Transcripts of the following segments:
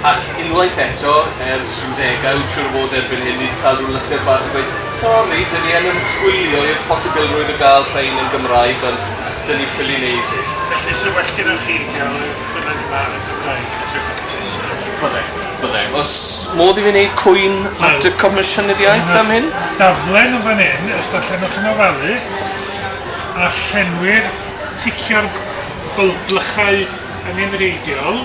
Ac unwaith eto, ers rhyw ddegawd, siŵr o fod erbyn hyn, ni 'di cael rhyw lythyr bach yn dweud, Sori, dyn ni yn ymchwilio i'r posibilrwydd o gael rhein yn Gymraeg, ond dyn ni ffili wneud hyn. Felly, 'se well gennoch chi gael y ffynnon yma yn Gymraeg yn hytrach na Saesneg? Byddai, byddai. Oes modd i fi wneud cwyn at y Comisiynydd-iaith am hyn? Wel, mae'r daflen o fan hyn, os darllenwch yn ofalus, a llenwir, ticio'r bylglychau yn unfrieidiol,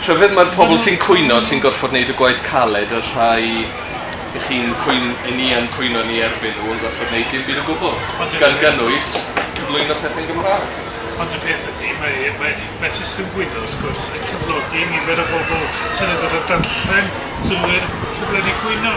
Rhyfedd, mae'r pobl sy'n cwyno sy'n gorfod gwneud y gwaith caled, y rhai i chi'n cwyn- i ni yn cwyno yn ei erbyn nhw yn gorfod gwneud dim byd o gwbl, Ond y gan peth- gynnwys cyflwyno pethau'n Gymraeg. Ond y peth ydy, mae mae mae system gwyno, wrth gwrs, yn cyflogi nifer o bobl sydd yn gorfod darllen drwy'r ffurflenni cwyno.